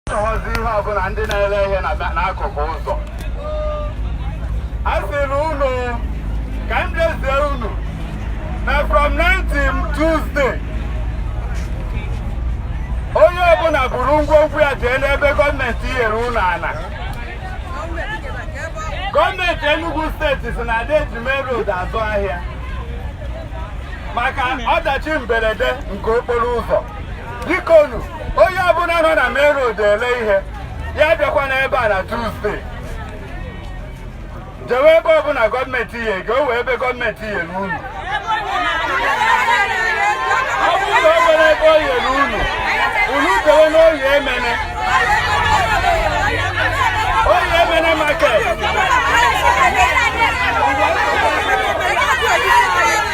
chọwazi ihe ọbụla ndị na-ere ihe n'akụkụ ụzọ a sị na unu ka m jezie unu na from 19 Tuesday onye ọbụla buru ngwongwo ya jee n'ebe gọọmenti nyere unu ala gọọmenti Enugu steeti si na a da eji main road azụ ahịa maka ọdachi mberede nke okporo ụzọ bikonu onye ọbụla nọ na main road ele ihe ya abịakwana ebe a na Tuesday jewe ebe ọbụla gọọmenti nyere gị o nwee ebe gọọmenti nyere unu ọ bụrụ na o nwere ebe o nyere unu unu jewe n'Oye Emene Oye Emene market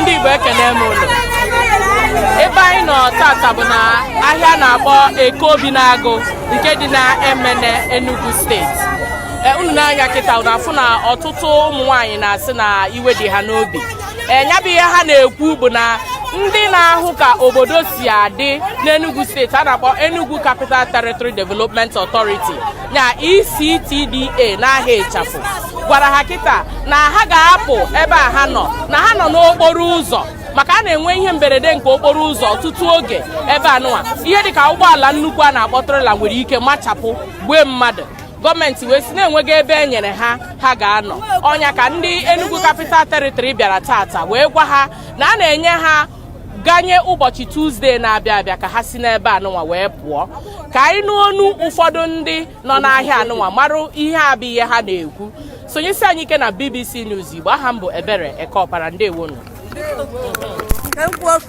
ndị Igbo ekene m unu ebe anyị nọ tata bụ na ahịa a na-akpọ Eke Obinagu nke dị na Emene Enugu steeti e, unu nee anya kịta unu afụ na ọtụtụ ụmụ nwaanyị na-asị na iwe dị ha n'obi nya bụ ihe ha na-ekwu bụ na ndị na-ahụ ka obodo si adị n'Enugu steeti a na-akpọ Enugu Capital Territory Development Authority nya ECTDA n'aha ịchafụ gwara ha kịta na ha ga-apụ ebe a ha nọ na ha nọ n'okporo ụzọ maka a na-enwe ihe mberede nke okporo ụzọ ọtụtụ oge ebe anụwa ihe dịka ụgbọala nnukwu a na-akpọ trela nwere ike machapụ gbue mmadụ gọọmenti wee sị na enweghị ebe e nyere ha ha ga-anọ ọ nya ka ndị Enugu Capital Territory bịara tata wee gwa ha na a na-enye ha ganye ụbọchị tuzdee na-abịa abịa ka ha si n'ebe anụnwa wee pụọ ka anyị nụ n'ọnụ ụfọdụ ndị nọ n'ahịa anụnwa marụ ihe bụ ihe ha na-ekwu sonyesi anyị ike na BBC News Igbo aha m bụ Ebere Ekeọpara ndewonu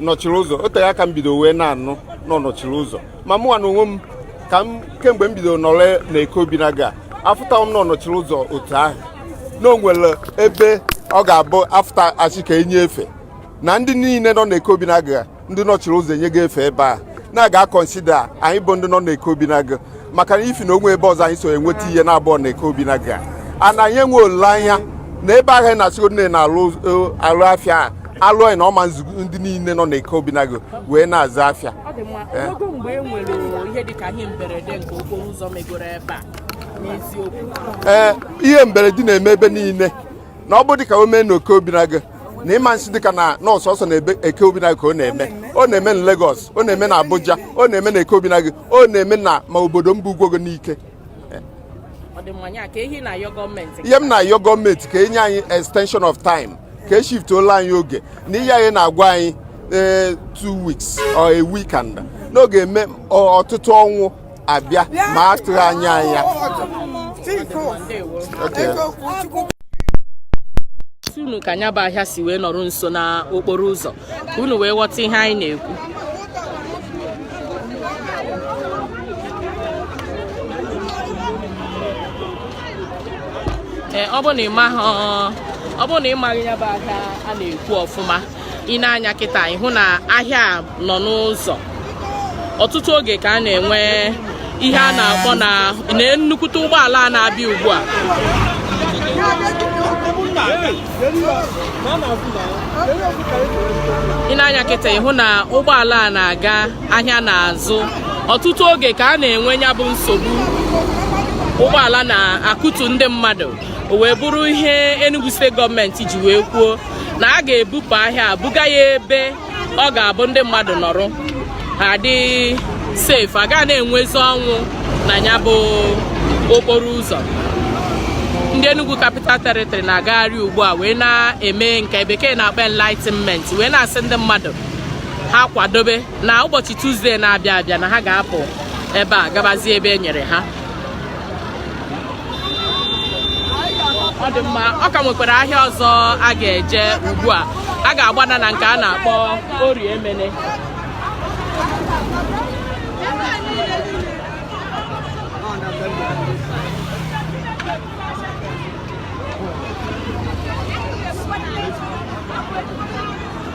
nọchiri ụzọ o tere aka m bido wee na-anụ na ọ nọchiri ụzọ ma mụnwa na onwe m ka m kemgbe m bidoro nọrọ na Eke Obinagu afụtaghị m na ọ nọchiri ụzọ otu ahụ na o nwere ebe ọ ga-abụ a fụta a sị ka e nye efe na ndị niile nọ na Eke Obinagu ndị nọchiri ụzọ e nyego efe ebe a na a ga-akọnsida anyị bụ ndị nọ na Eke Obinagu maka na ifi na o nwerọ ebe ọzọ anyị si enweta ihe na-abụrọ na Eke Obinagu ana anyị enwe olileanya na ebe ahụ anyị na-asịgodi na-alụ alụ afịa a alụ anyị na ọ ma ezu ndị niile nọ na Eke Obinagu wee na-azụ afịa ọ dị mma Eh. o nwego mgbe e nwere ihe dịka ihe mberede nke okporo ụzọ megoro ebe a n'eziokwu ee ihe mberede na-eme ebe niile na ọ bụ dịka o mee na Eke Obinagu na ị ma asị dịka na ọ sọsọ na ebe Eke Obinagu ka ọ na-eme ọ na-eme na Lagos ọ na-eme na Abuja ọ na-eme na Eke Obinagu o na Emene ma obodo m bụ Ugwogo Nike ihe m na-ayọ gọọmenti ka e nye anyị extension of time ka e shiftuola anyị oge na ihe anyị na-agwa anyị eh, two weeks or a week and na ọ ga-eme ọtụtụ ọnwụ abịa ma a tụghị anya anya unu ka nya bụ ahịa si wee nọrọ nso n'okporo ụzọ ka unu wee ghọta ihe anyị na-ekwu ee ọ bụrụ na ịmaghị ọ bụrụ na ịmaghị ya bụ ahịa a na-ekwu ọfụma i nee anya kịta ị hụ na ahịa a nọ n'ụzọ ọtụtụ oge ka a na-enwe ihe a na-akpọ na nnukwute ụgbọala a na-abịa ugbu a i nee anya kịta ị hụ na ụgbọala a na-aga ahịa na-azụ ọtụtụ oge ka a na-enwe nya bụ nsogbu ụgbọala na-akụtu ndị mmadụ o wee bụrụ ihe Enugu steeti gọọmenti ji wee kwuo na a ga-ebupụ ahịa a buga ya ebe ọ ga-abụ ndị mmadụ nọrọ ha dị safe a gaghị na-enwezi ọnwụ na nya bụ okporo ụzọ ndị Enugu Capital Territory na-agagharị ugbu a wee na-eme nke bekee na-akpọ enlightenment wee na-asị ndị mmadụ ha kwadobe na ụbọchị Tuzdee na-abịa abịa na ha ga-apụ ebe a gabazie ebe e nyere ha ọ dị mma ọ ka nwekwara ahịa ọzọ a ga-eje ugbu a a ga-agbada na nke a na-akpọ Orie Emene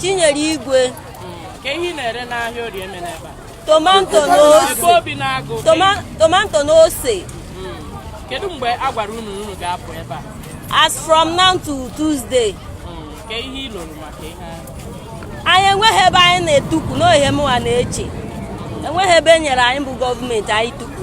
Chinyere Igwe kee ihe ị na-ere n'ahịa Orie Emene ebe a tomato na ose obi na-agụ tomato na ose kedu mgbe a gwara unu unu ga-apụ ebe a as from now to Tuesday kee ihe ị lụrụ maka ihe anyị enweghị ebe anyị na-etukwu na ọ ihe mụwa na-eche enweghị ebe e nyere anyị bụ gọọmenti anyị tukwu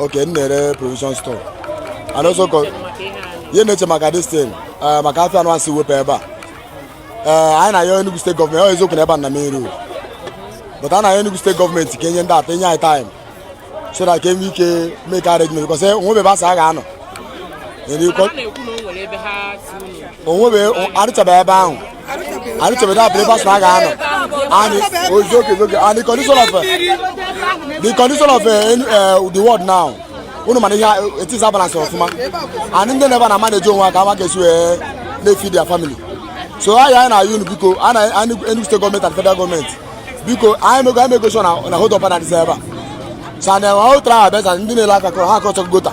Okay, m na-ere provision store. And also co- ihe ị na-eche maka this thing eh, maka afịa unu a sị wepụ ebe a Eh, anyị na-ayọ Enugu steeti gọọmenti ọ eziokwu na ebe a na main road but a na-ayọ Enugu steeti gọọmenti ka e nye ndị ata e nye anyị time so that ka e nwee ike make arrangement because o nwebe ebe a sị a ga-anọ Enyi- na-ekwu na o nwere ebe ha sị unu o nwebe a rụchabeghị ebe ahụ anyị chọrọ na abịa ebe asụ a ga-anọ anyị ozi oge oge and the condition of the condition of uh, the world now unu ma na ihe adịzi balance ọfụma and ndị nọ ebe a na-amanage onwe ha ka amaghị esi wee na-efeed their family so anyị anyị na-ayọ unu biko anyị Enugu steeti gọọmenti and federal gọọmenti biko anyị mego anyị mego na hold up na dịsa ebe a so and ahụ tara abịa ndị na-ele aka kọrọ ha akọchọ gota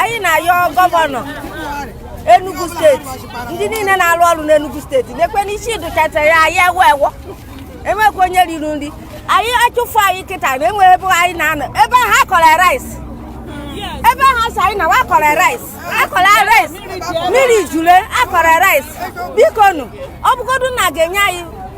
anyị na-ayọ gọvanọ Enugu steeti ndị niile na-arụ ọrụ n'Enugu steeti lekwe n'isi dụchata ya anyị ewe ewo enwekwa onye riri nri anyị a chụfụ anyị kịta na enwe ebe anyị na-anọ ebe ha kọrọ rice ebe ha sị anyị nawa kọrọ rice a kọrọ rice mmiri jule a kọrọ rice biko nu ọ bụgodu na a ga-enye anyị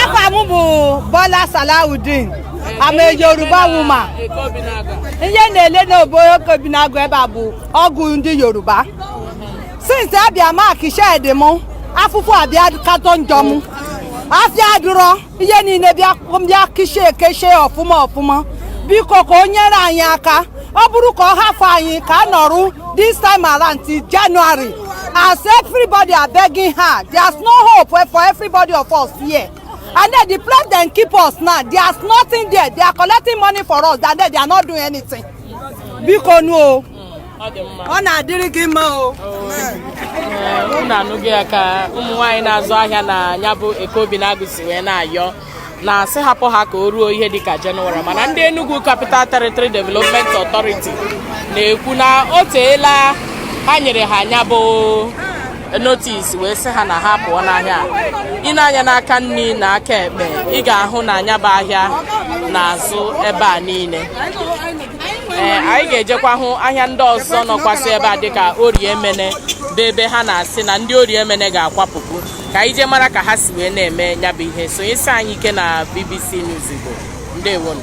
afa m bụ Bola Salawudeen I'm a Yoruba woman ihe na-ele n'obodo Eke Obinagu ebe a bụ ọgwụ ndị Yoruba since a bịa mark shed m afụfụ abịa katọ njọ m afịa adụrọ ihe niile bịa keshie ekeshie ọfụma ọfụma biko ka o nyere anyị aka ọ bụrụ ka ọ hafụ anyị ka a nọrụ this time around till January as everybody are begging her there's no hope for everybody of us here and then the place dem keep us now there's nothing there they are collecting money for us and then they are not doing anything biko nu o ọ na-adịrị gị mma o unu anụgo ya ka ụmụ nwaanyị na-azụ ahịa na nya bụ Eke Obinagu si wee na-ayọ na sị hapụ ha ka o ruo ihe dịka Jenụwarị mana ndị Enugu Capital Territory Development Authority na-ekwu na o teela ha nyere ha nya bụ notis wee sị ha na ha pụọ n'ahịa ị nee anya n'aka nri na aka ekpe ị ga-ahụ na nya bụ ahịa na-azụ ebe a niile ee anyị ga-ejekwa hụ ahịa ndị ọzọ nọkwasị ebe a dịka Orie Emene bụ ebe ha na-asị na ndị Orie Emene ga-akwapụkwu ka anyị jee mara ka ha si wee na-eme nya bụ ihe sonyesie anyị ike na BBC News Igbo ndewonu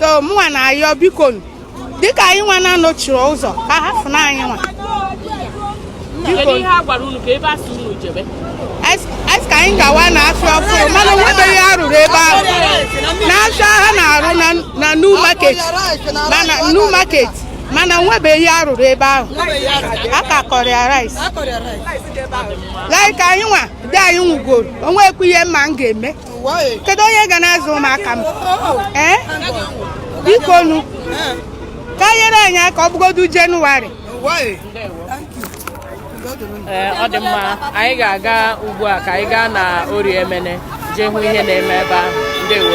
so mụnwa na-ayọ biko dịka anyị nwa na-anọchiri ụzọ ka ha fụ na anyị nwa a sị ka anyị gawa na afịa ọfụrụ mana o nwebeghị ihe a rụrụ ebe ahụ n'afịa ha na-arụ na new market mana new market mana o nwebeghị ihe a rụrụ ebe ahụ a ka kọrọ ya rice like anyị nwa di anyị nwụgoro o nwekwu ihe m ma m ga-eme kedu onye ga na-azụ ụmụaka m ee biko nu ka e nyere anyị aka ọ bụgodu Jenụwarị ee ọ dị mma anyị ga-aga ugbu a ka anyị gaa na Orie Emene jee hụ ihe na-eme ebe ahụ ndewo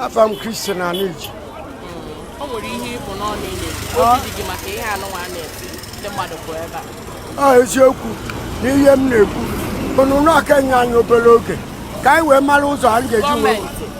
afa m kristian aniji o nwere ihe ị bu n'ọnụ ile obi dị gị maka ihe anụnwa a na-eti ndị mmadụ bụ ebe a a eziokwu na ihe m na-ekwu unu nye aka nye anyị obere oge ka anyị wee mara ụzọ anyị ga-eji wee gọọmenti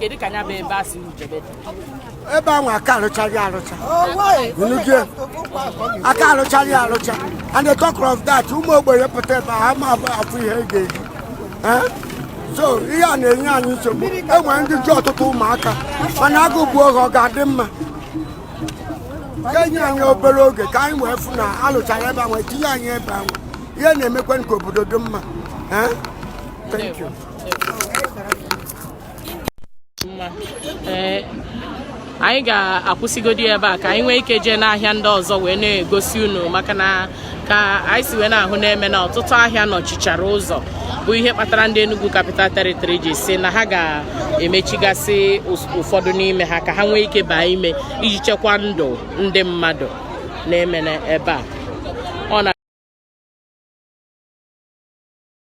kedu ka nya bụ ebe a sị jebe dị ebe ahụ aka arụchaghị arụcha Unugie, aka arụchaghị arụcha and on top of that ụmụ ogbenye pụta ebe a, ha ma abụ afụ ihe ị ga-eji Eh? so ihe a na-enye anyị nsogbu e nwere ndị ji ọtụtụ ụmụaka mana agụ bụ oge ọ ga-adị mma ka e nye anyị obere oge ka anyị wee fụ na a lụchara ebe ahụ tinye anyị ebe ahụ ihe na-emekwa ka obodo dị mma Eh? Thank you. ee anyị ga-akwụsịgodi ebe a ka anyị nwee ike jee n'ahịa ndị ọzọ wee na-egosi unu maka na ka anyị si wee na-ahụ na-eme na ọtụtụ ahịa nọchichara ụzọ bụ ihe kpatara ndị Enugu Capital Territory ji sị na ha ga-emechigasị ụfọdụ n'ime ha ka ha nwee ike baa ime iji chekwa ndụ ndị mmadụ na-eme ebe a